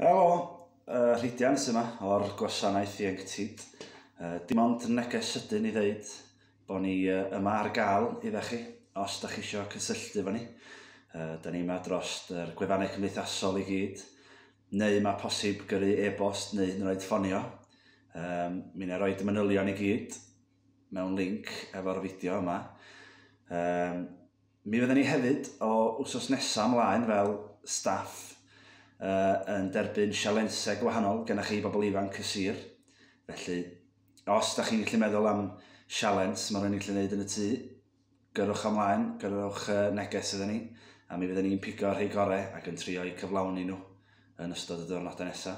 Helo, uh, Rhidian sy'n yma o'r gwasanaeth ieuenctid. Uh, dim ond neges sydyn i ddeud bod ni uh, yma ar gael i chi os da chi eisiau cysylltu fo ni. Uh, da ni yma dros yr gwefannau cymdeithasol i gyd, neu mae posib gyrru e-bost neu hyn oed ffonio. Um, mi na roi manylion i gyd mewn link efo'r fideo yma. Um, Mi fydden ni hefyd o wsos nesaf ymlaen fel staff yn derbyn sialensau gwahanol gennych chi bobl ifanc y sir. Felly, os da chi'n gallu meddwl am sialens mae rhywun yn gallu gwneud yn y tŷ, gyrwch ymlaen, gyrwch neges iddyn ni, a mi fydden ni'n pigo rhai gorau ac yn trio eu cyflawni nhw yn ystod y diwrnodau nesaf.